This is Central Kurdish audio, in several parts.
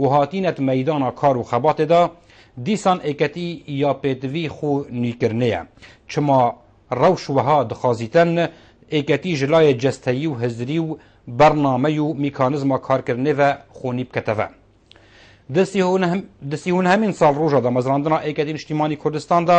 و هاتینەت مەیدانا کار و خەباتێ دا، دیسان ئێکەتی یا پێتڤی خو نویکرنێە، چما رەوش وەها دخازیتن ئێکەتی ژ لایێ جەستەیی و هزری و بەرنامەی و میکانزما کارکردنێڤە خونی بکەتەڤە دستی هون هەمین ساڵ روژا دامەزراندنا ئێکەتی نشتیمانی کوردستان دا،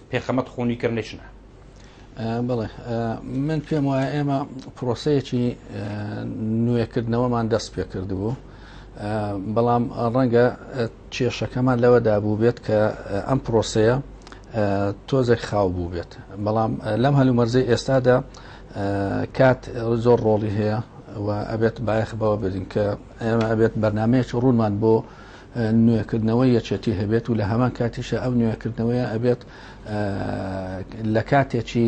پێخەمەت خۆنی کەم نەچنە بڵێ من پێم وایە ئێمە پرۆسەیەکی نوێکردنەوەمان دەست پێ کردبوو بەڵام ڕەنگە کێشەکەمان لەوەدا بوو بێت کە ئەم پرۆسەیە تۆزێک خاو بوو بێت بەڵام لەم هەلومەرزەی ئێستادا کات زۆر ڕۆڵی هەیە و ئەبێت بایەخ بەوە بدین کە ئێمە ئەبێت بەرنمەیەکی ڕوونمان بۆ نوێکردنەوەی یەکێتی هەبێت و لە هەمان کاتیشە ئەو نوێکردنەوەیە ئەبێت لە کاتێکی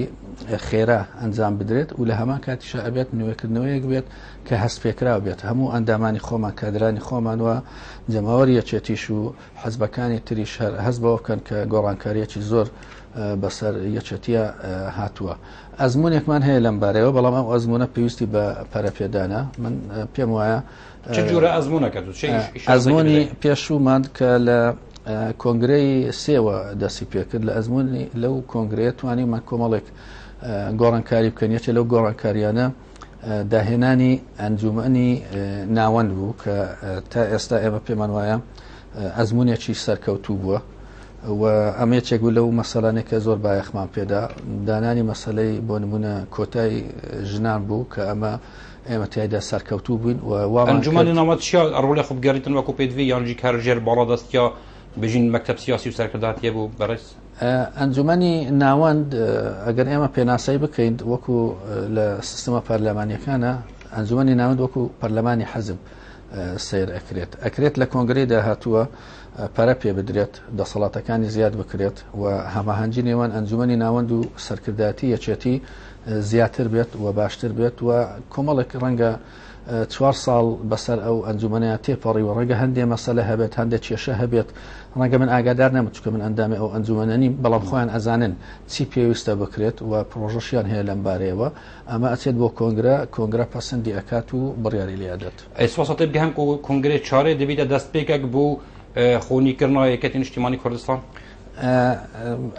خێرا ئەنجام بدرێت و لە هەمان کاتیشە ئەبێت نوێکردنەوەیەک بێت کە هەست پێکراو بێت هەموو ئەندامانی خۆمان کادرانی خۆمان وە جەماوەری یەکێتیش و حەزبەکانی تریش هەر هەست بەوە بکەن کە گۆڕانکاریەکی زۆر بەسەر یەکێتیە هاتووە ئەزمونێکمان هەیە لەم بارەوە بەڵام ئەو ئەزمونە پێویستی بە پەرەپێدانە من پێم وایە چ جورە ئەزمونەکە دوو ئەزمۆنی پێشوومان کە لە کۆنگرەی سێوە دەسی پێکرد لە ئەزمونی لەو کۆنگرەیە توانیمان کۆمەڵێک گۆڕانکاری بکەن یەکێ لەو گۆڕانکاریانە داهێنانی ئەنجومنی ناوەند بوو کە تا ئێستا ئێمە پێمان وایە ئەزمونێکی سەرکەوتوو بووە و ئەمێچێک بوو لەو مەسەلانێک کە زۆر بایەخمان پێدا دانانی مەسلەی بۆ نمونە کۆتای ژنان بوو کە ئەمە ئێمە تیایدا سەرکەوتوو بووین و وامان کرد. ئەنجومەنی ناوەند چیا ڕۆڵێ خۆ بگەریتن وەکوو پێدڤی یان جی کار ژێر باڵادەستیا بژین مەکتەب سیاسی و سەرکرداتی هەبوو بەڕێز؟ ئەنجومەنی ناوەند ئەگەر ئێمە پێناسەی بکەین وەکوو لە سیستمە پەرلەمانیەکانە ئەنجومەنی ناوەند وەکوو پەرلەمانی حەزب سیر ئەکرێت ئەکرێت لە کۆنگری داهاتووە پەرە پێ بدرێت دەسەڵاتەکانی زیاد بکرێت و هەماهەنگی نێوان ئەنجومی ناوەند و سەرکردایەتی یەکێتی زیاتر بێت و باشتر بێت و کۆمەڵێک ڕەنگە چوار ساڵ بەسەر ئەو ئەنجومەنەیە تێپەڕیوە ڕەنگە هەندێ مەسەلە هەبێت هەندێک کێشە هەبێت ڕەنگە من ئاگادار نەم چکە من ئەندامی ئەو ئەنجومەنە نیم بەڵام خۆیان ئەزانن چی پێویستە بکرێت و پرۆژەشیان هەیە لەم بارەیەوە ئەمە ئەچێت بۆ کۆنگرە کۆنگرە پەسەندی ئەکات و بڕیاری لێدەت ئەیسواسەتی بگەم کۆنگرێ چارێ دەبیتە دەست پێکەک بوو خۆنیکردنەوە یەکەتی نیشتیمانی کوردستان؟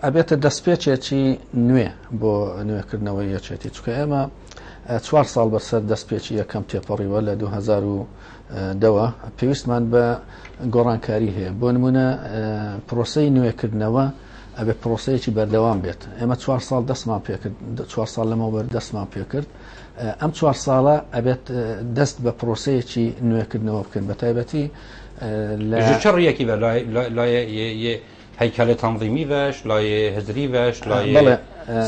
ئەبێتە دەستپێچێکی نوێ بۆ نوێکردنەوەی یەکێتی چکە ئێمە چوار ساڵ بەسەر دەستپێکی یەکەم تێپەڕیوە لە 2010ەوە پێویستمان بە گۆڕانکاری هەیە بۆ نمونە پرۆسی نوێکردنەوە ئەبێ پرۆسەیەکی بەردەوام بێت ئێمە چوار ساڵ دەستمان پێکرد چوار ساڵ لەمەوەەر دەستمان پێکرد ئەم چوار ساڵە ئەبێت دەست بە پرۆسەیەکی نوێکردنەوە بکەن بە تایبەتی لە چ ڕیەکی بە لای هەیکەلە تەنظیمی بەش لای هزری بەش لای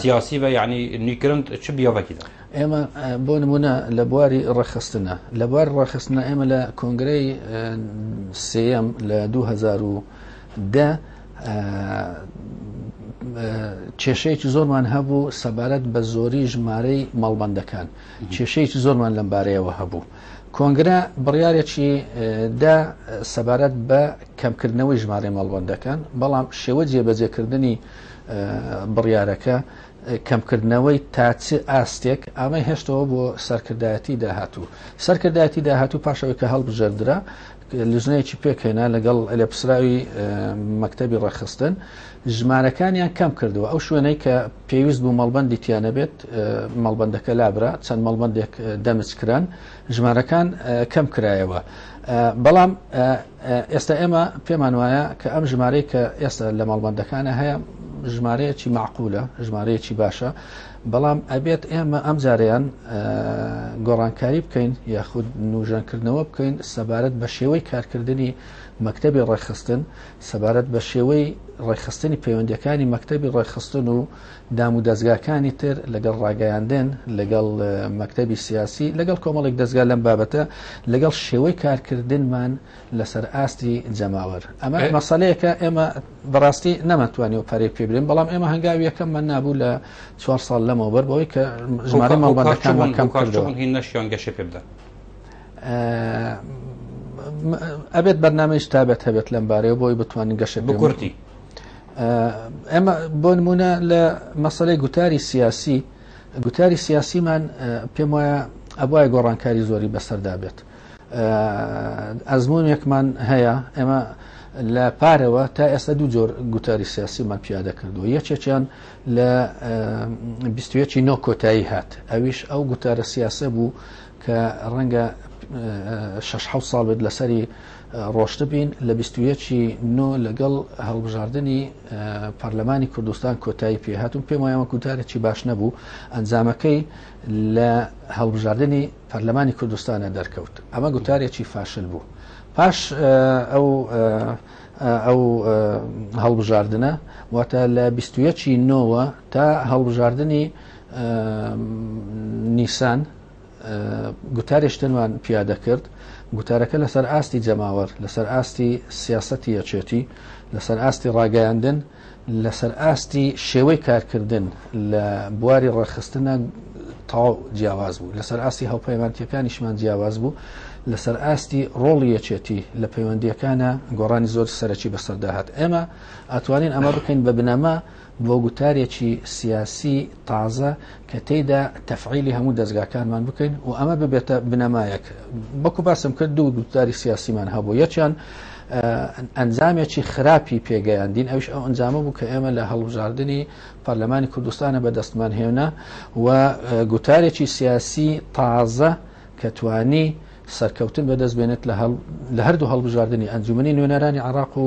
سیاسی بە یعنی نیکرند چ بیاوەکیدا ئێمە بۆ نمونە لە بواری ڕەخستنە لە بوار ڕەخستنە ئێمە لە کۆنگرەی سم لە 2010 کێشەیەکی زۆرمان هەبوو سەبارەت بە زۆری ژمارەی ماڵبندەکان کێشەیەکی زۆرمان لەم بارەیەوە هەبوو کۆنگرە بڕیارێکی دا سەبارەت بە کەمکردنەوەی ژمارەی مەڵبەندەکان، بەڵام شێوە جێبەجێکردنی بڕیارەکە کەمکردنەوەی تا چ ئاستێک ئامەی هێشتەوە بۆ سەرکردایەتی داهاتوو سەرکردایەتی داهاتوو پاشەوەی کە هەڵبژێردرا لژنەیەکی پێکهێنا لەگەڵ لێپسراوی مەکتەبی ڕەخستن ژمارەکانیان کەم کردووە ئەو شوێنەی کە پێویست بوو مەڵبەندی تیا نەبێت، مەڵبەندەکە لابرا، چەند مەڵبەندێک دەمج کران، ژمارەکان کەم کرایەوە، بەڵام ئێستا ئێمە پێمان وایە کە ئەم ژمارەی کە ئێستا لە مەڵبەندەکانە هەیە ژمارەیەکی معقولە، ژمارەیەکی باشە، بەڵام ئەبێت ئێمە ئەم جارەیان گۆڕانکاری بکەین یاخود نوژەنکردنەوە بکەین سەبارەت بە شێوەی کارکردنی مەکتەبی ڕێکخستن، سەبارەت بە شێوەی ڕێکخستنی پەیوەندیەکانی مەکتەبی ڕێکخستن و دام و دەستگاکانی تر لەگەڵ ڕاگەیاندن لەگەڵ مەکتەبی سیاسی لەگەڵ کۆمەڵێک دەستگا لەم بابەتە لەگەڵ شێوەی کارکردنمان لەسەر ئاستی جەماوەر ئەمە مەسلەیەکە ئێمە بەڕاستی نەمەتوانی و پەرێ پێبرین بەڵام ئێمە هەنگاویەکەممان نابوو لە چوار ساڵ لەمەوە بەر بەوەی کە ژمارە ماڵبەندەکانمان کەم کردەوە نەشیان گەشە پێ بدەن ئەبێت بەرنامەش تابەت هەبێت لەم بارەیە بۆی بتوانین گەشە بکورتی ئەمە بۆ نمونە لە مەسلەی گوتاری سیاسی گوتاری سیاسیمان پێم وایە ئەبواە گۆڕانکاری زۆری بەسەردا بێت ئەزمونێکمان هەیە ئێمە لە پارەوە تا ئێستا دوو جۆر گوتاری سیاسیمان پیادە کردو یەکێکیان لە 21 نۆ کۆتایی هات ئەویش ئەو گوتارە سیاسە بوو کە ڕەنگە شەش حەوت ساڵ بێت لەسەری ڕۆشتبین لە بیست و یەکی نۆ لەگەڵ هەڵبژاردنی پەرلەمانی کوردستان کۆتایی پێهاتون پێم وایە وەکو تارێکی باش نەبوو ئەنجامەکەی لە هەڵبژاردنی پەرلەمانی کوردستانە دەرکەوت ئەمە گوتارێکی فاشل بوو پاش ئەو ئەو هەڵبژاردنە واتە لە بیست و یەکی نۆوە تا هەڵبژاردنی نیسان گوتارێش تەنوان پیادە کرد گوتارەکە لەسەر ئاستی جەماوەر لەسەر ئاستی سیاستی یەچێتی لەسەر ئاستی ڕاگەیاندن لەسەر ئاستی شێوەی کارکردن لە بواری ڕێخستنە تاو جیاواز بوو لەسەر ئاستی هەوپەیمانتیەکانیشمان جیاواز بوو لەسەر ئاستی ڕۆڵی یەچێتی لە پەیوەندیەکانە گۆڕانی زۆر سەرەکی بەسەرداهات ئێمە ئەتوانین ئەمە بکەین بە بنەما بۆ گوتارێکی سیاسی تازە کە تێیدا تەفعیلی هەموو دەزگاکانمان بکەین و ئەمە ببێتە بنەمایەک بەکو باسم کرد دوو گوتاری سیاسیمان هەبوو یەکیان ئەنجامێکی خراپی پێگەیاندین ئەوش ئەو ئەنجامە بوو کە ئێمە لە هەڵبژاردننی پەرلەمانی کوردستانە بە دەستمان هێنا و گوتارێکی سیاسی تازە کە توانی سەرکەوتن بەدەست بێنێت لە هەردوو هەڵبژاردننی ئەنجومی نوێنەرانی عراق و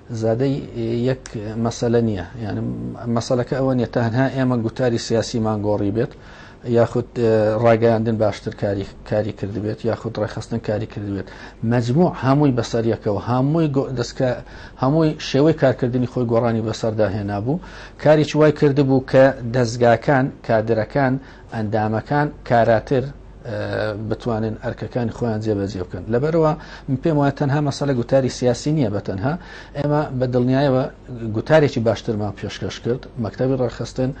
زادەی یەک مەسەلە نییە یعنی مەسەلەکە ئەوە نیە تەنها ئێمە گوتاری سیاسیمان گۆڕی بێت یاخود ڕاگەیاندن باشتر کاری کاری کردبێت یاخود ڕێخستن کاری کردبێت مجموع هەمووی بەسەریەکەەوە هەمووی دەستکە هەمووی شێوەی کارکردنی خۆی گۆڕانی بەسەردا هێنا بوو کاریی وای کردبوو کە دەستگاکان کادرەکان ئەندامەکان کاراتر بتوانن ئەرکەکانی خۆیان جێبەجێ بکەن لەبەرەوە من پێم وایە تەنها مەسەلە گوتاری سیاسی نییە بە تەنها ئێمە بە دڵنیایەوە گوتارێکی باشترمان پێشکەش کرد مەکتتەبی ڕاخستن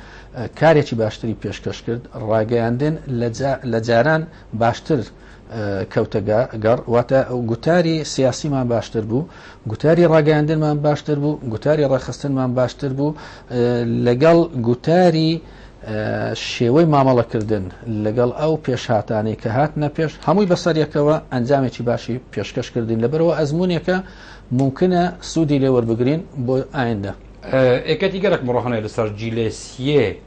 کارێکی باشتری پێشکەش کرد ڕاگەیاندن لە جاران باشتر کەوتە گەڕ واتە گوتاری سیاسیمان باشتر بوو گوتاری ڕاگەاندنمان باشتر بوو گوتاری ڕێخستنمان باشتر بوو لەگەڵ گوتاری شێوەی مامەڵەکردن لەگەڵ ئەو پێشهاتانەی کە هات نە پێش هەمووی بەسەریەکەوە ئەنجامێکی باشی پێشکەشکردین لەبەرەوە ئەزمونونێکە ممکنە سوودی لێوەربگرین بۆ ئایندە ئێکەتی گەرەک مڕۆحانێ لەسەر جیلێسیە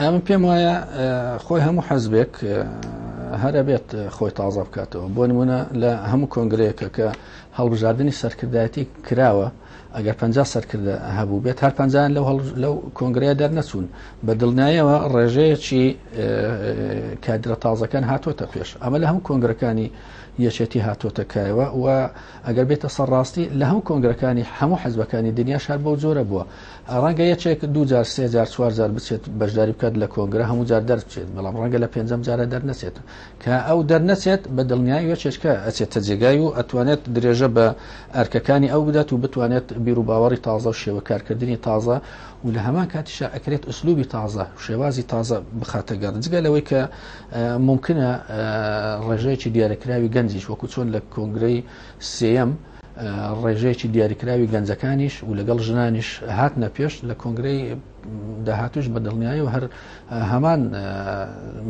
ئەمە پێم وایە خۆی هەموو حەزبێک هەرە بێت خۆی تازە بکاتەوە بۆ نمونە لە هەموو کۆنگرەیەکە کە هەڵبژاردننی سەرکردایەتی کراوە ئەگەر پ سەرکردە هەبوو بێت هەر پنجیان لەو لەو کۆنگرەیە دەرنەچوون بە دڵنیایەوە ڕێژەیەکی کادرە تازەکان هاتۆتە پێش ئەمە لە هەموو کۆنگرەکانی یەچێتی هاتۆتەکایەوە و ئەگەر بێتە سەرڕاستی لە هەموو کۆنگرەکانی هەموو حەزبەکانی دنیا شار بەو جۆرە بووە ڕەنگە یەکێک دوو جار سێ جار چوار جار بچێت بەشداری بکات لە کۆنگرە هەموو جار دەرچێت بەڵام ڕەنگە لە پێنجەم جارە دەرنەچێت کە ئەو دەرنەچێت بە دڵنیایی وەچێشکە ئەچێتە جێگای و ئەتوانێت درێژە بە ئەرکەکانی ئەو بدات و بتوانێت بیر و باوەڕی تازە و شێوە کارکردنی تازە و لە هەمان کاتیشا ئەکرێت ئوسلوبی تازە شێوازی تازە بخاتە گەڕ جگە لەوەی کە ممکنە ڕێژەیەکی دیارەکراوی گەنجیش وەکو چۆن لە کۆنگرەی سێەم ڕێژەیەکی دیاریکراوی گەنجەکانیش و لەگەڵ ژنانیش هاتنە پێش لە کۆنگرەی داهاتوش بە دڵنیایی و هەر هەمان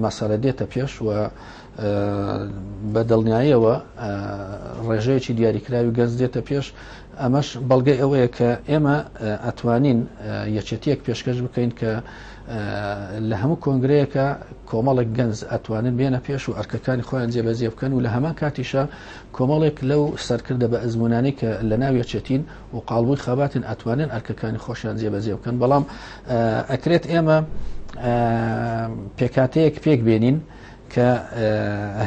مەسەرە دێتە پێش و بە دڵنیاییەوە ڕێژەیەکی دیاریکراوی گەنج دێتە پێش ئەمەش بەڵگەی ئەوەیە کە ئێمە ئەتوانین یەکێتیەک پێشکەش بکەین کە لە هەموو کۆنگرەیەەکە کۆمەڵک گەنج ئەتوانن بێنە پێش و ئەرکەکانی خۆیان جێبەجێ بکەن و لە هەمان کاتیشە کۆمەڵێک لەو سەرکردە بە ئەزمونانەی کە لە ناو یەکێتین و قالبووی خەباتن ئەتوانن ئەرکەکانی خۆشیان جێبەجێ بکەن بەڵام ئەکرێت ئێمە پێکاتەیەک پێک بێنین کە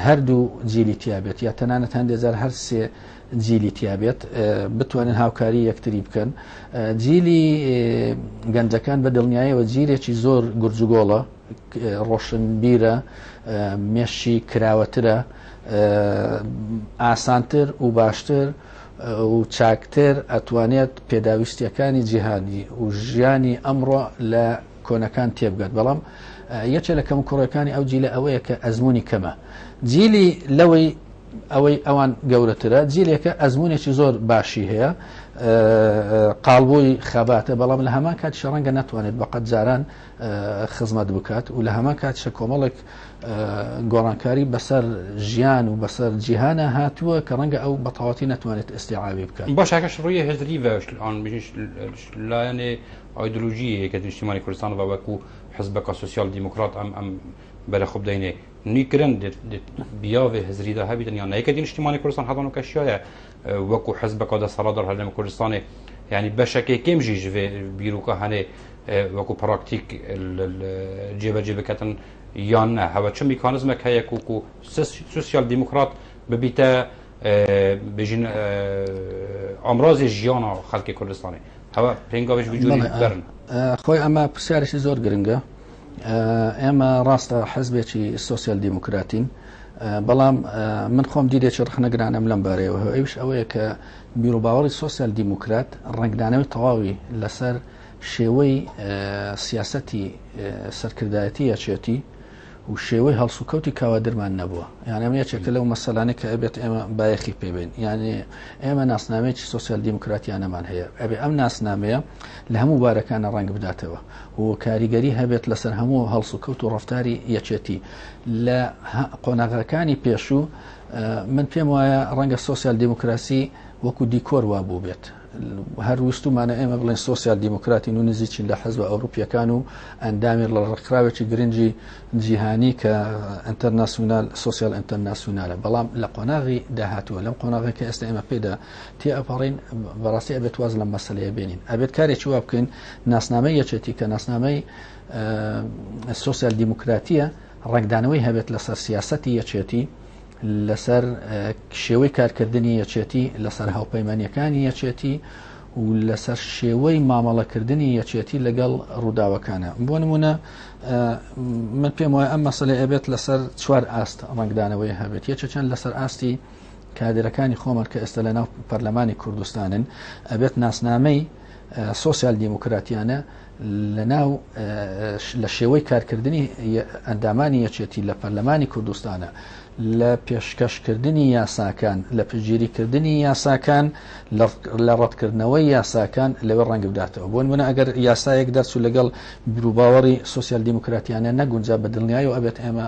هەردوو جیلی تیابێت یا تەنانەت هەندێزار هەر سێ جیلی تیابێت بتوانن هاوکاری یەکتری بکەن جیلی گەنجەکان بە دڵنیایەوە جیرێکی زۆر گورجگۆڵە ڕۆشنبیرە، مێشکی کراوەترە، ئاسانتر و باشتر و چاکتر ئەتوانێت پێداویستیەکانی جیهانی و ژیانی ئەمڕۆ لە کۆنەکان تێبگات بەڵام یەکێ لە کەم کوڕەکانی ئەو جیلە ئەوەیە کە ئەزمموی کەمە جیلی لەوەی ئەوەی ئەوان گەورەترە جیلێکە ئەزمونێکی زۆر باشی هەیە قالبووی خەباتە بەڵام لە هەمان کات شەڕەنگە ناتوانێت بەقەت جاران خزمەت بکات و لە هەمان کاتشە کۆمەڵێک گۆڕانکاری بەسەر ژیان و بەسەر جیهانە هاتووە کە ڕەنگە ئەو بەتەواتی نەتوانێت ئێستیعاوی بکات بۆ شاکەش ڕویە هزری بەشتان لایەنێ ئایدلوژیە کە نیشتیمانی کوردستان بە وەکو حزبەکە سوسیال دیموکرات ئەم ئەم بەرە خوب دەینێ نیکرن بیاێ هزریدا هەبیتن یان نایکە دی نیشتیمانی کوردستان هەڵان و کەشیایە وەکو حزبەکە دەسەڵات دەڵ هەرێم کوردستانی یعنی بەشەکەی کێمژی ژێ بیرروکە هەنێ وەکو پراکتیک جێبەجێ بکەن یان نە هەوە چ میکانزمە کە یەک وکو سوسیال دیموکرات ببیتە بژین ئامرازی ژیانە خەڵکی کوردستانی هەوە پێنگاوش بجوورن خۆی ئەمە پرسیارێکی زۆر گرنگە ئێمە ڕاستە حزبێکی سوسیال دیموکراتین بەڵام من خۆم دیدێکی ڕخنەگرانم لەم بارەیەوە ئەوش ئەوەیە کە بیرروباوەڕی سوسیال دیموکرات ڕنگدانەوەی تەواوی لەسەر شێوەی سیاستی سەرکردایەتی یەچێتی و شێوەی هەڵسوکەوتی کاوادرمان نەبووە یان ئەم یەکێکە لەو مەسەلانە کە ئەبێت ئێمە بایەخی پێبێن یانێ ئێمە ناسنامەیەکی سوسیال دیموکراتیانەمان هەیە ئەبێ ئەم ناسنامەیە لە هەموو بارەکانە ڕنگ بداتەوە و کاریگەری هەبێت لەسەر هەموو هەڵسوکەوت و ڕفتاری یەکێتی لە قۆناغەکانی پێشوو من پێم وایە ڕەنگە سوسیال دیموکراسی وەکو دیکۆر وا بوو بێت هەر وستومانە ئێمە بڵێن سوسیال دیموکراتی و نزیچین لە حەزب ئەوروپیەکان و ئەندامی لە ڕێکخراوێکی گرنگی جیهانی کە ئەتەرناسیونال سوسیال ئەتەرناسیونالە بەڵام لە قۆناغی داهاتووە لەم قۆناغی کە ئێستا ئێمە پێدا تێئەپەڕین بەڕاستی ئەبێت واز لەم مەسلەیە بێنین ئەبێت کارێکی وا بکەین ناسنامەی یەچێتی کە ناسنامەی سوسیال دیموکراتیە ڕنگدانەوەی هەبێت لەسەر سیاستی یەچێتی لەسەر شێوەی کارکردنی یەچێتی لەسەر هاوپەیمانەکانی یەچێتی و لەسەر شێوەی مامەڵەکردنی یەچێتی لەگەڵ ڕووداوەکانە بۆ نمونە من پێم وایە ئەم مەسلەی ئەبێت لەسەر چوار ئاست ڕنگدانەوەی هەبێت یەکێکیان لەسەر ئاستی کادرەکانی خۆمان کە ئێستا لە ناو پەرلەمانی کوردستانن ئەبێت ناسنامەی سوسیال دیموکراتیانە لە ناو لە شێوەی کارکردنی ئەندامانی یەکێتی لە پەرلەمانی کوردستانە لە پێشکەشکردنی یاساکان لە پگیریکردنی یاساکان لە ڕەتکردنەوەی یاساکان لەوێ ڕەنگ بداتەوە بۆن منە ئەگەر یاسایەک دەرچوو لەگەڵ بروباوەڕی سوسیال دیموکراتیانە نەگونجا بە دڵنیایی و ئەبێت ئێمە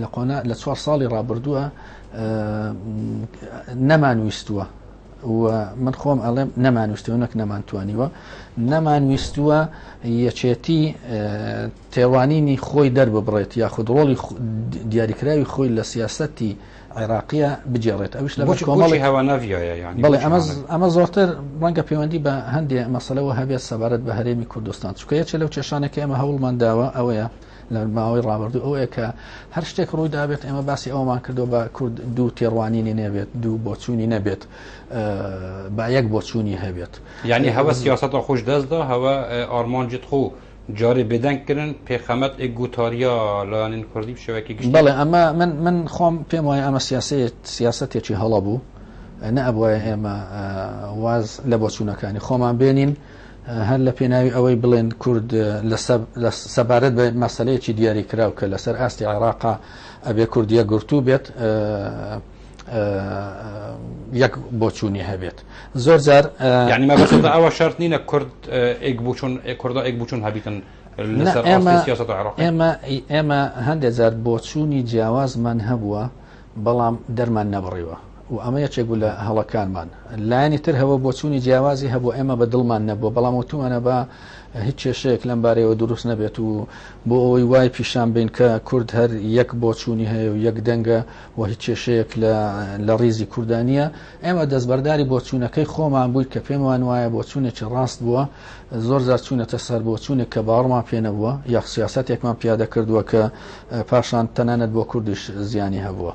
لە قۆنا لە چوار ساڵی ڕابردووە نەمانویستووە من خۆم ئەڵێم نەمانویستەوە نەک نەمانتوانیوە نەمانویستووە یەچێتی تێوانینی خۆی دەرببڕێت یاخود ڕۆڵی دیاریکراوی خۆی لە سیاستی عێراقیە بجێڕێت ئەوش لە کۆمەڵی هەواناویایەڵێ ئەمە زۆرتر ڕەنگە پەیوەندی بە هەندێک مەسلەوە هەبێت سەبارەت بە هەرێمی کوردستان چکە یەکێ لەو کێشانەکە ئەمە هەوڵمان داوە ئەوەیە لە ماوەی ڕابردوو ئەوەیە کە هەر شتێک ڕووی دابێت ئێمە باسی ئەومان کردو بە کورد دوو تێڕوانینی نەبێت دوو بۆچوونی نەبێت با یەک بۆچوونی هەبێت یعنی هەوە سیاست خۆش دەستدا هەوە ئارمانجت خۆ جارێ بێدەنگکردن پێخەمەت ئێک گوتاریا لایەنین کوردی شوێکی گشت بڵێ ئەمە من من خۆم پێم وایە ئەمە سیاسەت سیاستێکی هەڵە بوو نەبواە ئێمە واز لە بۆچوونەکانی خۆمان بێنین هەر لە پێناوی ئەوەی بڵێن کورد سەبارەت بە مەسلەیەکی دیاری کراو کە لەسەر ئاستی عێراقا ئەبێ کوردیە گرتوو بێت یەک بۆچوونی هەبێت زۆر جار ینی مەبەست ئەوە شرت نینە کورد ئێک بچون کوردا ئێک بچون هەبیتن ئێمە ئێمە هەندێک جار بۆچوونی جیاوازمان هەبووە بەڵام دەرمان نەبڕیوە و ئەمە یەکێک بوو لە هەڵەکانمان. لایەنی تر هەبوو بۆچوونی جیاوازی هەبوو، ئێمە بە دڵمان نەبوو، بەڵام وتومانە با هیچ کێشەیەک لەم بارەیەوە دروست نەبێت و بۆ ئەوەی وای پیشان بین کە کورد هەر یەک بۆچوونی هەیە و یەک دەنگە و هیچ کێشەیەک لە ڕیزی کوردا نییە. ئێمە دەستبەرداری بۆچوونەکەی خۆمان بووین کە پێمان وایە بۆچوونێکی ڕاست بووە، زۆر جار چووینەتە سەر بۆچوونێک کە باوەڕمان پێ نەبووە یا سیاسەتێکمان پیادە کردووە کە پاشان تەنانەت بۆ کوردیش زیانی هەبووە.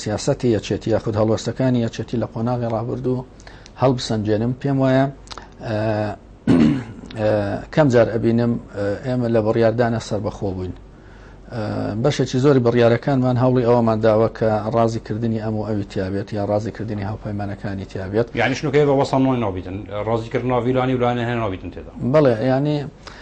سیاسەتی یەکێتی یاخود هەڵوەستەکانی یەکێتی لە قۆناغی ڕابردوو هەڵبسەنجێنم پێم وایە کەم جار ئەبینم ئێمە لە بڕیاردانە سربەخۆ بووین بەشێکی زۆری بڕیارەکانمان هەوڵی ئەوەمان داوە کە ڕازی کردنی ئەم و ئەوی تیاابێت یا ڕازی کردنی هاوپەیمانەکانی تیاابێت یانیشنەکەی بە وەسەڵۆی نابیتن ڕازیکردناویلانی ولایەنە هەیە نابیتن تێدا بڵێ ینی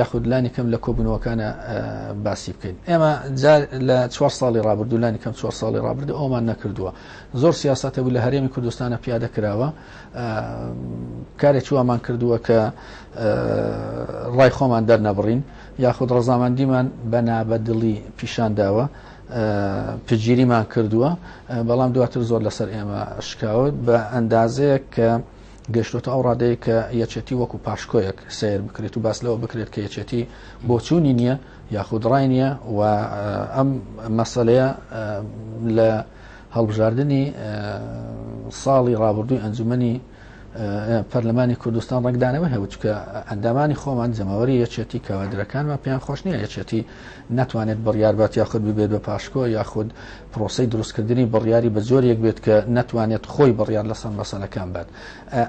یاخود لانی کەم لە کۆبوونەوەکانە باسی بکەین ئێمە جار لە چوار ساڵی رابردوو لانی کەم چوار ساڵی رابرد ئەومان نەکردووە زۆر سیاستە بوو لە هەرێمی کوردستانە پیادە کراوە کارێک چووامان کردووە کە ڕای خۆمان دەرنەبڕین یاخود ڕزامەندیمان بە نابەدڵی پیشان داوە پگیریمان کردووە بەڵام دواتر زۆر لەسەر ئێمە شکاوت بە ئەندازەیە کە گەیشتۆتە ئەو ڕادەیە کە یەکێتی وەکو پاشکۆیەک سیر بکرێت و باس لەوە بکرێت کە یەکێتی بۆچوونی نییە یاخود ڕای نییە و ئەم مەسلەیە لە هەڵبژاردننی ساڵی ڕابردووی ئەنجومنی پەرلەمانی کوردستان ڕنگدانەوە هەوچکە ئەندامانی خۆمان جەماوەری یەکێتی کەوادرەکانمان پێیان خۆشنیە یەکێتی ناتوانێت بڕیار بات یاخود ببێت بە پاشکۆ یاخود پرۆسەی دروستکردنی بڕیاری بە جۆرێک بێت کە ناتوانێت خۆی بڕیار لەسەر مەسەلەکان بات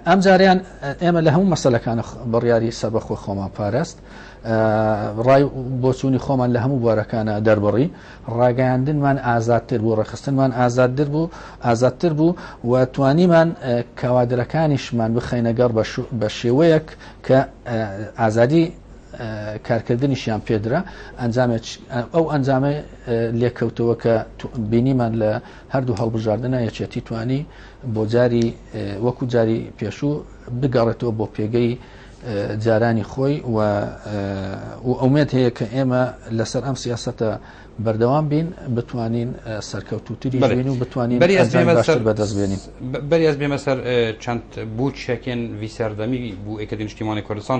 ئەم جاریان ئێمە لە هەموو مەسەلەکان بڕیاری سەربەخۆ خۆمان پاراست ڕای بۆچوونی خۆمان لە هەموو بوارەکانە دەربڕی ڕاگەیاندنمان ئازادتر بوو ڕێخستنمان ئازادتر بوو ئازادتر بوو و توانیمان کەوادرەکانیشمان بخەینەگەڕ بە شێوەیەک کە ئازادی کارکردنیشیان پێدرا ئەنجام ئەو ئەنجامە لێکەوتەوە کە بینیمان لە هەردوو هەڵبژاردنە یەکێتی توانی بۆ جاری وەکو جاری پێشوو بگەڕێتەوە بۆ پێگەی جارانی خۆی و ئەومێت هەیە کە ئێمە لەسەر ئەم سیاستە بەردەوام بین بتوانین سەرکەوتوتری بین و بتوانین بەدەست بێنین بەریاز بێمە سەر چەند بوو چەکێن ویسەردەمی بوو ئەکەدی نیشتیمانی کوردستان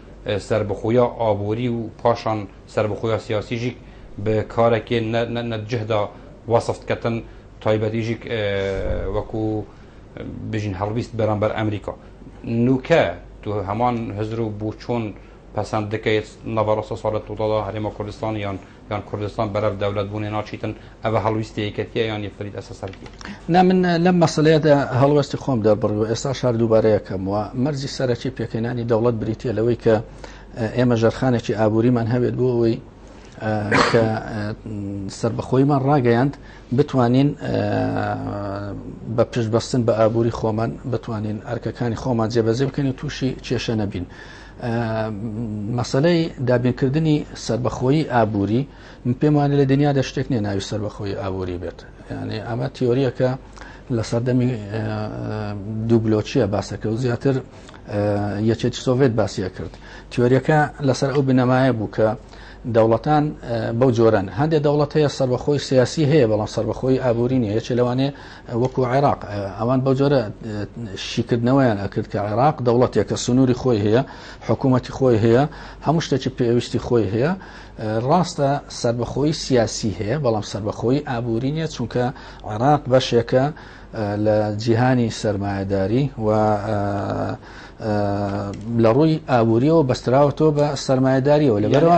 سەربەخۆییا ئابووری و پاشان سەربەخۆییا سیاسییشیگ بە کارەکێ نە جهدا وەسفت کەتن، تایبەتیشیگ وەکوو بژین هەڵویست بەرامبەر ئەمریکا. نووکە تو هەمان هزر و بووچۆن پەسەند دکەێت نەڤەڕۆسە ساڵە تووتادا هەرێما کوردستان یان یان کوردستان بەرەڤ دەولەت بونێ ناچیتن ئەڤە هەڵویستی یەکەتیە یان یەک فرید ئەسە سەرکی. نا من لەم مەسەلەیەدا هەڵوێستی خۆم دەربڕی و ئێستاش هەر دووبارە یەکەم وە مەرجی سەرەکی پێکهێنانی دەوڵەت بریتە لەوەی کە ئێمە ژەرخانێکی ئابووریمان هەبێت بۆ ئەوەی کە سربەخۆیمان ڕاگەیاند بتوانین بە پشتبەستن بە ئابووری خۆمان بتوانین ئەرکەکانی خۆمان جێبەجێ بکەین و تووشی کێشە نەبین. مەسەلەی دابینکردنی سربەخۆیی ئابووری من پێم وانە لە دنیادا شتێک نیە ناوی سربەخۆی ئابووری بێت یعنی ئەمە تیۆریەکە لە سەردەمی دووبلۆچیە باسەکە و زیاتر یەکێت سۆڤێت باسیە کرد تیۆریەکە لەسەر ئەو بنەمایە بوو کە دەوڵەتان بەو جۆرەن هەندێک دەوڵەت هەیە سربەخۆی سیاسی هەیە بەڵام سربەخۆی ئابووری نیە یەکێ لەوانێ وەکو عێراق ئەوان بەو جۆرە شیکردنەوەیان ئەکرد کە عێراق دەوڵەتێکە سنووری خۆی هەیە حکوومەتی خۆی هەیە هەموو شتێکی پێویستی خۆی هەیە ڕاستە سربەخۆی سیاسی هەیە بەڵام سربەخۆی ئابووری نیە چونکە عێراق بەشێکە لە جیهانی سرمایهداری و لە ڕووی ئابووریەوە بەستراوەتەوە بە سرمایهداریەوە لەبەرەوە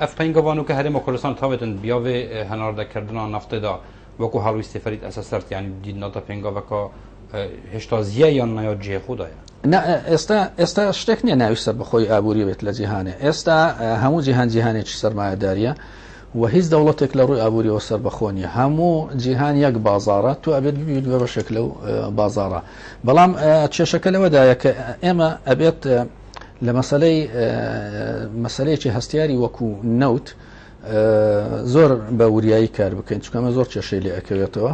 ئەفین گەوان و کە هەرێمە کوردستان تاوێتن بیاێ هەناردەکردنا نفتێدا وەکو هەڵویستی فەرید ئەسەسەرت یان دیدنەتە پێنگەڵەکە هێشتا زیای یان نایۆت جێ خوددایە ئێستا ئێستا شتێک نییە ناوی سەر بەخۆی ئابووری بێت لە جیهانێ ئێستا هەموو جیهان جیهانێکی سەرمایەداریە و هیچ دەوڵەتێک لە ڕووی ئابووریەوە سەر بەخۆنی هەموو جیهان یەک بازارە تو ئەبێت ببیت بە بەشێک لەو بازارە بەڵام کێشەکە لەوەدایە کە ئێمە ئەبێت لە مەسلەی مەسلەیەکی هەستیاری وەکو نەوت زۆر بە وریایی کار بکەین چکەمە زۆر کێشەی لێ ئەکەوێتەوە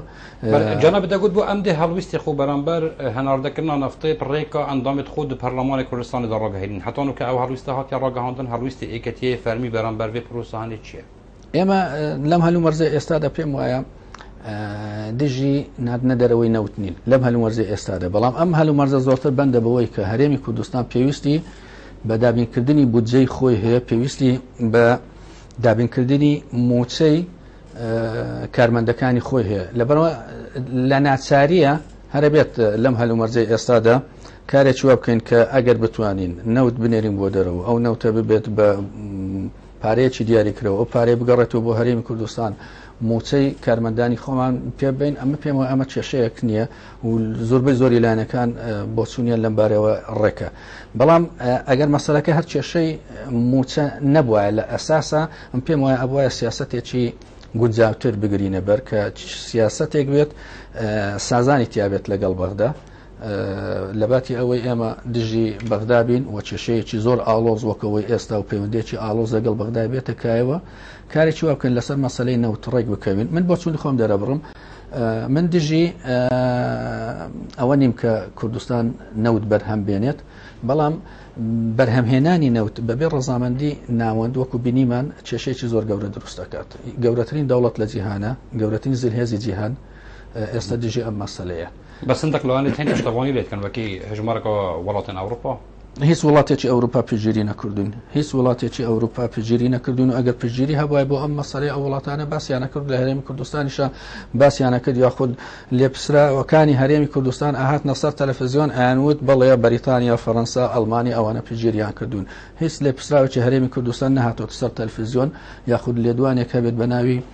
جەنە بدەگوت بۆ ئەم دێ هەڵویستی خۆ بەرامبەر هەناردەکردنا نفتەی پڕێکە ئەندامێت خۆ دو پەرلەمانی کوردستانی دەڕۆگەهێنین هەتان و کە ئەو هەڵویستە هااتیا ڕۆگەهاندن هەڵویستی ئێکەتیە فەرمی بەرامبەر بێ پرۆسەهانی چییە؟ ئێمە لەم هەلو مەرزە ئێستادا پێم وایە دژی نادنە دەرەوەی نەوت نین لەم هەلومەرزە ئێستادا بەڵام ئەم هەلومەرزە زۆرتر بەندە بەوەی کە هەرێمی کوردستان پێویستی بە دابینکردنی بودجەی خۆی هەیە پێویستی بە دابینکردنی موچەی کارمەندەکانی خۆی هەیە لەبەرەوە لە ناچاریە هەرەبێت لەم هەلومەرجەی ئێستادا کارێکی وا بکەین کە ئەگەر بتوانین نەوت بنێرین بۆ دەرەوە ئەو نەوتە ببێت بە پارەیەکی دیاری کرەوە ئەو پارەی بگەڕێتەوە بۆ هەرێمی کوردستان موچەی کارمەندانی خۆمان پێبین ئەمە پێمەوە ئەمە کێشەیەک نییە و زۆربەی زۆری لایەنەکان بۆچوونیان لەم بارەوە ڕێکە بەڵام ئەگەر مەسەلەکە هەر کێشەی موچە نەبواە لە ئەساسا ئەم پێم وایە ئەبواە سیاستێکی گونجاوتر بگرینە بەر کە سیاستێک بێت سازانی تیاابێت لەگەڵ بەغدا لەباتی ئەوەی ئێمە دژی بەغدا بین و کێشەیەکی زۆر ئاڵۆز وەکەوەی ئێستا و پەیوەندێکی ئاڵۆز لەگەڵ بەغدای بێتە کایەوە کارێکی وابکەن لەسەر مەسلەی نەوتڕێک بکەوین من بۆ چون خۆم دەرەبڕم من دژی ئەوە نیم کە کوردستان نەوت بەرهەم بێنێت بەڵام بەرهەمهێنانی نەوت بەبێ ڕزامەندی ناوەند وەکو بینیمان کێشێکی زۆر گەورە دروست دەکات گەورەترین دەوڵەت لە جیهانە گەورەترین زلهێزی جیهان ئێستا دژی ئەم مەسلەیە بەسندەک لەوانێت هەندێک شتەڕوانی لێتکەن وەکی هەژمارەکەەوە وڵاتن ئەوروپا هیچ وڵاتێکی ئەوروپا پژیری نەکردوین هیچ وڵاتێکی ئەوروپا پژیری نەکردوین و ئەگەر پژیری هەبای بۆ ئەم مەسەری ئەو وڵاتانە باسییانەکرد لە هەرێمی کوردستانیشە باسییانەکرد یاخود لێپسراوەکانی هەرێمی کوردستان ئاهات نەسەر تەلەفزیۆن ئەیانوت بڵێ بەریتانیا فەەنسا ئەلمانی ئەوانە پژیریان کردوون هیچ لێپسراوێکی هەرێمی کوردستان نەهاتۆتە سەر تەلفزیۆن یاخود لێدوانێک هەبێت بە ناوی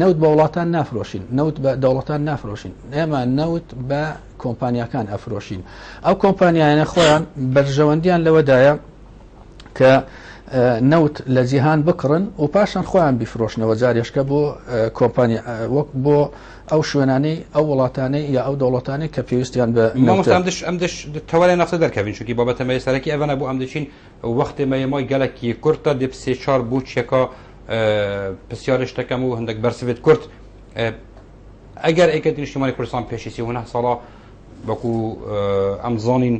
نەوت بە وڵاتان نافرۆشین نەوت بە دەوڵەتان نافرۆشین ئێمە نەوت بە کۆمپانیەکان ئەفرۆشین ئەو کۆمپانیانە خۆیان بەرژەوەندیان لەوەدایە کە نەوت لە جیهان بکڕن و پاشان خۆیان بیفرۆشنەوە جارێشکە بۆ کۆمپانیا وەک بۆ ئەو شوێنانەی ئەو وڵاتانەی یا ئەو دەوڵەتانەی کە پێویستیان بە ئەم دش تەوەێ نەفسە دەرکەوین چونکی بابەتەمەی سەرەکی ئەڤەنە بۆ ئەم دەچین و وەختێ مە یەمای گەلە کی کورت تە دێ پسێ چار بوو چێ کا پسیارێ شتە کە مو هندەک بەر سڤێت کورت ئەگەر ئەی کەتی نیشتیمانی کوردستان پێشی سی هونە ساڵا بەکو ئەم زانین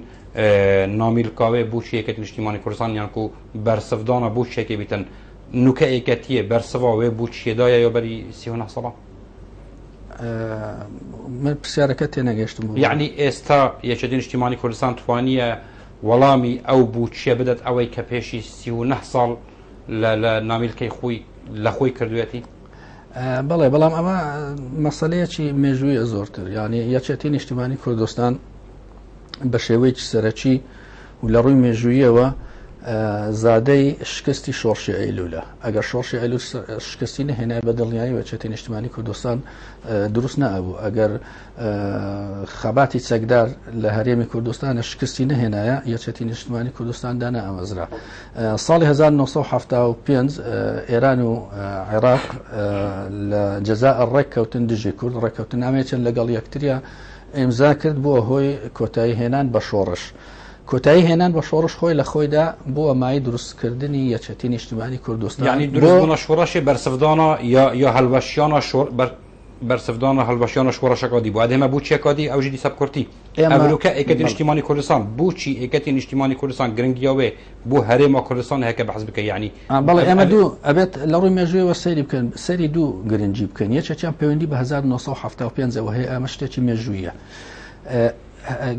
نامیل کاوێ بوو چی ئەکەتی نیشتیمانی کوردستان یان کو بەر سڤدانە بوو چێکی بیتن نوکە ئێکەتیە بەر سڤا وێ بوو چێدایە یا بەری سی هونە ساڵا من پرسیارەکە تێنەگەشتم یعنی ئێستا یەکێتی نیشتیمانی کوردستان توانیە وەڵامی ئەو بوچیە بدەت ئەوەی کە پێشی سی و نە ساڵ لە لە نامیلکەی خوی لە خوی کردوێتی بەڵێ بەڵام ئەمە مەسلەیەکی مێژوویە زۆرتر یعنی یەچێتی نیشتمانی کوردستان بە شێوەیەکی سەرەکی و لە ڕووی مێژوویەوە زادەی شکستی شۆڕشی ئەیلولە ئەگەر شۆڕشی ئەلو شکستی نهێنای بە دڵنیایی وەچێتی نیشتمانی کوردستان دروست نەبوو ئەگەر خەباتی چەکدار لە هەرێمی کوردستانە شکستی نەهێنایە یەچەتی نیشتمانی کوردستان دانا ئەمەزرا ساڵی 1975 ئێران و عێراق لە جەزا ڕێککەوتن دژی کورد ڕێککەوتن نامێچن لەگەڵ یەکتریا ئیمزا کرد بووە هۆی کۆتایی هێنان بە شۆڕش. کۆتایی هێنان بە شۆڕش خۆی لە خۆیدا بووە مای دروستکردنی یەچەتی نیشتمانی کوردستانی دروستبوونە شۆڕەشی بەرسەردانە یا هەلوەشیانە شۆر بەرسڤدان را هەلبەشیانە شوڕەشەکا دی بو ئەدێ مە بوچیە کا دی ئەوژی دیسە بکورتی ئەمروکە ئێکەتی نیشتیمانی کوردستان بوچی ئێکەتی نیشتیمانی کوردستان گرنگیاوێ بو هەرێما کوردستان هەیە کە بەحس بکە یعنی بەڵێ ئێمە دوو ئەبێت لە ڕووی مێژوویەوە سەیری بکەن سەری دوو گرنگی بکەن یەکێکیان پەیوەندی بە 1975 ەوە هەیە ئەمە شتێکی مێژوویە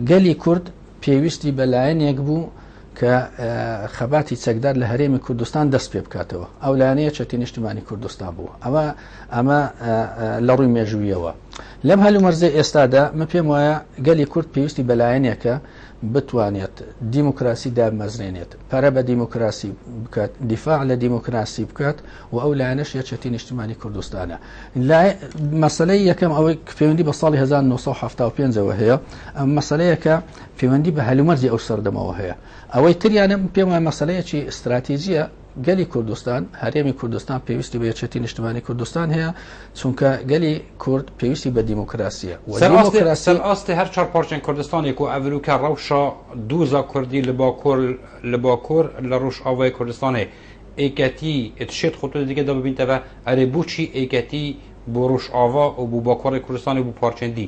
گەلی کورد پێویستی بە لایەنێک بوو کە خەباتی چەکدار لە هەرێمی کوردستان دەست پێ بکاتەوە ئەو لایەنەیە چەکی نیشتمانی کوردستان بوو ئەمە ئەمە لە ڕووی مێژوویەوە لەم هەلو مەرزە ئێستادا من پێم وایە گەلی کورد پێویستی بەلایەنێکە بتوانێت دیموکراسی دامەزرێنێت پەرە بە دیموکراسی بکات دیفاع لە دیموکراسی بکات و ئەو لایەنەش یەچەتی نیشتمانی کوردستانە مەسلەی یەکەم ئەوەی پەیوەندی بە ساڵی 1970 پێنجەوە هەیە ئەم مەسلەیەکە پەیوەندی بە هەلومەرجی ئەو سەردەمەوە هەیە ئەوەی تریانە پێم وایە مەسەلەیەکی ئستراتیژیە گەلی کوردستان هەرێمی کوردستان پێویستی بە یەکێتی نیشتمانی کوردستان هەیە چونکە گەلی کورد پێویستی بە دیموکراسیە سەر ئاستی هەر چهار پارچێن کوردستانێک و ئەڤروکە ڕەوشە دووزا کوردی لە باکۆر لە باکۆر لە ڕوش ئاوای کوردستانێ ئێکەتی شێت خۆتۆ دیگە دەببینتەوە ئەرێ بچی ئێکەتی بۆ ڕوش ئاوا و بوو باکۆڕی کوردستانی بوو پارچێندی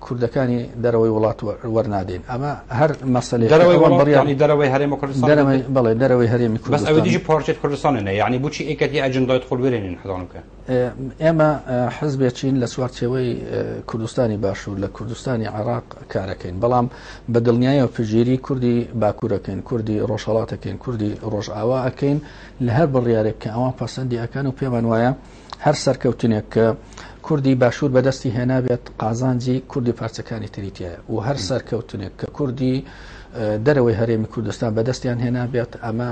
کوردەکانی دەرەوەی وڵات وەرنادەین ئەمە هەر مەسەلەی دەرەوەی وڵات بڕیار یعنی دەرەوەی هەرێمی کوردستان دەرەوەی بەڵێ دەرەوەی هەرێمی بەس کوردستان ئەوەی دیجی پارچێت کوردستانە نە یعنی بچی ئەکەت یە ئەجندایت خۆل وێرێنین حەزانم کە ئێ- ئێمە اه، حزبێکین لە چوارچێوەی اه، کوردستانی باشوور لە کوردستانی عێراق کارەکەین بەڵام بە دڵنیایەوە پژیری کوردی باکوورەکەین کوردی ڕۆژهەڵاتەکەین کوردی ڕۆژئاوا ئەکەین لە هەر بڕیارێک کە ئەوان پەسەندی ئەکەن و پێمان وایە هەر سەرکەوتنێک کە کوردی باشوور بەدەستی هێنابێت قازانجی کوردی پارچەکانی تریتە و هەر سەرکەوتنێک کە کوردی دەرەوەی هەرێمی کوردستان بەدەستیان هێنابێت ئەمە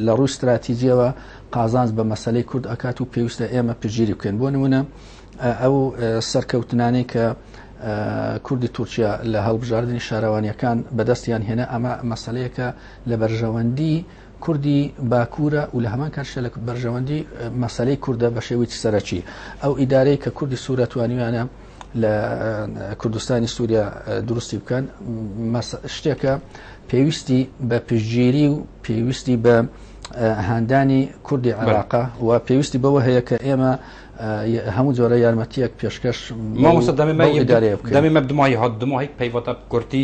لە ڕووی استراتیجیەوە قازانج بە مەسلەی کورد ئەکات و پێویستە ئێمە پژیری بکەین بۆ نمونە ئەو سەرکەوتنانەی کە کوردی تورکیا لە هەڵبژاردننی شارەوانیەکان بەدەستیان هێنا ئەمە مەسلەیەکە لە بەرژەوەندی کوردی باکوورە و لە هەمان کاتشدا لە بەرژەوەندی مەسەلەی کوردە بە شێوەی سەرەکی ئەو ئیدارەی کە کوردی سوورە توانیویانە لە کوردستانی سووریا دروستی بکەن شتێکە پێویستی بە پشتگیری و پێویستی بە هاندانی کوردی عراقا و پێویستی بەوە هەیە کە ئێمە هەموو جۆرە یارمەتیەک پێشکەش دەمی مە دمای هات دمای پەیوەتە کورتی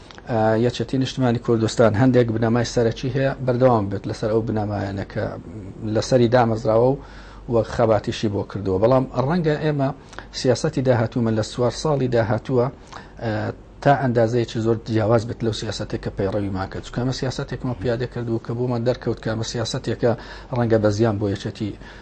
یەکێتی نیشتمانی کوردستان هەندێک بنەمای سەرەکی هەیە بەردەوام بێت لەسەر ئەو بنەمایانە کە لەسەری دامەزراوە و وەک خەباتیشی بۆ کردووە بەڵام ڕەنگە ئێمە سیاستی داهاتوومە لە سوار ساڵی داهاتووە تا ئەندازەیەکی زۆر جیاواز بێت لەو سیاستێک کە پەیڕەوی ماکە چکەمە سیاستێکمە پیادە کردو کە بۆمان دەرکەوت کامە سیاستێکە ڕەنگە بە زیان بۆ یەکێتی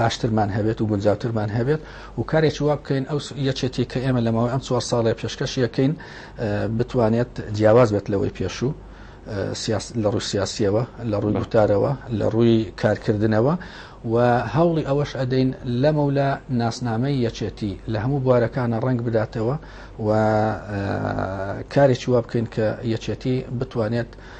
باشترمان هەبێت و گونجاوترمان هەبێت و کارێکی وا بکەین ئەو یەکێتی کە ئێمە لەمەوەی ئەم چوار ساڵێ پێشکەش یەکەین بتوانێت جیاواز بێت لەوەی پێشوو لە ڕووی سیاسیەوە لە ڕووی گوتارەوە لە ڕووی کارکردنەوە و هەوڵی ئەوەش ئەدەین لەمە لە ناسنامەی یەکێتی لە هەموو بوارەکانە ڕنگ بداتەوە و کارێکی وا بکەین کە یەکێتی بتوانێت